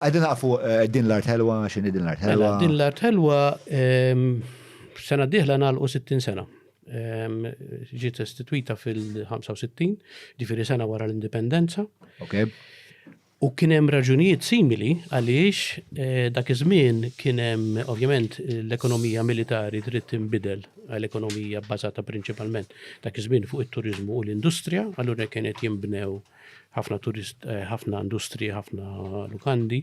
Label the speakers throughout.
Speaker 1: Qegħdin naqaf fuq din l-art ħelwa, x'inhi din l-art ħelwa? Din l-art ħelwa
Speaker 2: sena d-dieħla nagħlqu 60 sena. Ġiet istituita fil-65, ġifieri sena wara l-indipendenza. Okay.
Speaker 1: U
Speaker 2: kien hemm raġunijiet simili għaliex eh, dak iż-żmien kien hemm ovvjament l-ekonomija militari trid tinbidel għal ekonomija bbażata prinċipalment dak iż-żmien fuq it-turiżmu u l-industrija, allura kienet jinbnew ħafna turist, eh, ħafna industri, ħafna lukandi.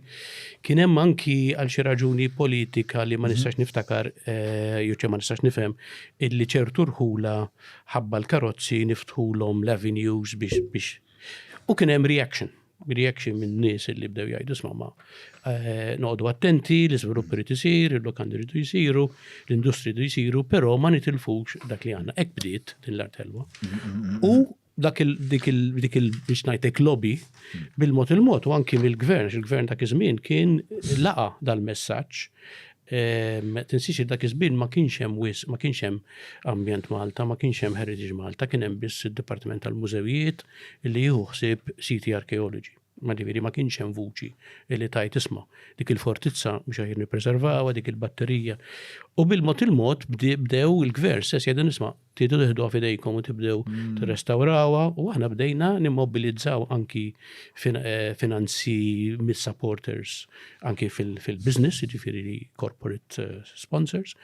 Speaker 2: Kien hemm anki għal xi raġuni politika li ma mhm. nistax niftakar, eh, jew ma nistax nifhem, illi ċertu rħula ħabba l-karozzi niftħulhom l-avenues biex biex. U kien hemm reaction reaction minn nies li bdew jgħidu smama eh, noqdu attenti, l-iżvilupp irid isir, il-lokandi irid jisiru, l-industri irid jisiru, però ma nitilfux dak li għandna. Hekk bdiet din l-artelwa. Mhm, mhm, U dak il dik il dik il biex ngħidlek lobby bil-mod il-mod u anki mill-gvern, il-gvern dak iż-żmien kien laqa dal-messaġġ ehm, tinsiex dak iż-żmien ma kienx hemm wis, ma kienx hemm ambjent Malta, ma kienx hemm Heritage Malta, kien hemm biss id-Dipartiment tal-Mużewijiet li jieħu ħsieb siti arkeoloġi. Ma ġifieri ma kienx hemm vuċi li tajt isma' dik il-fortizza biex aħjar nippreservawha, dik il-batterija. U bil-mod il-mod bdew il-gvern stess jgħidu nisma' Tridu tiħduha f'idejkom u tibdew tirrestawrawha u aħna bdejna nimmobilizzaw anki finanzi mis-supporters anki fil-business, jiġifieri li corporate sponsors,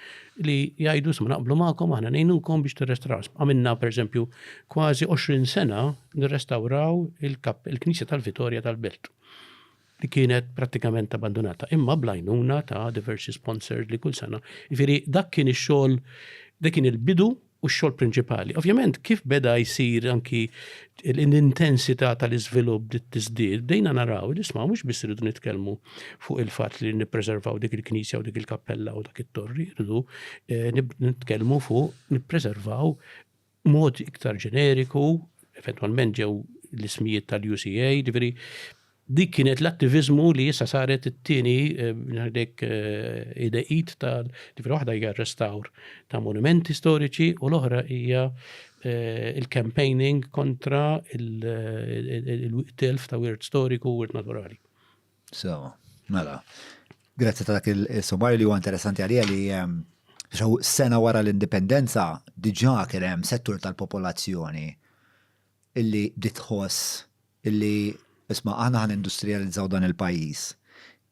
Speaker 2: li jgħidu isma' naqblu magħkom aħna ngħinukom biex tirrestawraw. Għamilna pereżempju kważi 20 sena nirrestawraw il-Knisja tal-Vitorja tal-Belt. li kienet prattikament abbandunata, imma bl-għajnuna ta' diversi sponsors li kull sena. Jifieri dak kien ix-xogħol, dak kien il-bidu u x-xogħol prinċipali. Ovvjament kif beda jsir anki l-intensità tal-iżvilupp bdiet tiżdied, bdejna naraw li sma' mhux biss irridu nitkellmu fuq il-fatt li nippreservaw dik il-knisja u dik il-kappella u dak it-torri, irridu eh, nitkellmu fuq nippreservaw B'mod iktar ġeneriku, eventwalment ġew l-ismijiet tal-UCA, ġifieri dik kienet l-attiviżmu li issa saret it-tieni ngħidlek id tal ġifieri waħda hija restawr ta' monumenti storiċi u l-oħra hija il-campaigning kontra il-telf ta' wirt storiku u wirt naturali. Sewa,
Speaker 1: mela. Grazzi ta' dak il-sommarju li huwa interessanti għalija li ehm, xaw sena wara l-indipendenza diġà kien hemm settur tal-popolazzjoni illi ditħoss illi isma' aħna ħan industrializzaw dan il-pajjiż.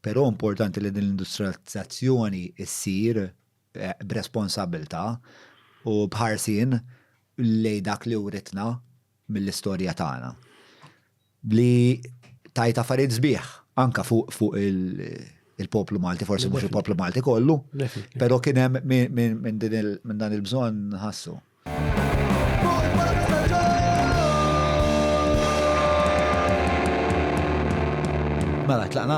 Speaker 1: Però importanti li din l-industrializzazzjoni ssir eh, b'responsabilità u bħarsin lej dak li writna mill-istorja tagħna li tajt affarijiet sbieħ anka fuq fu il-poplu Malti, forsi mhux il-poplu Malti kollu, però kien hemm minn dan il-bżonn ħassu. Mela, tlaqna?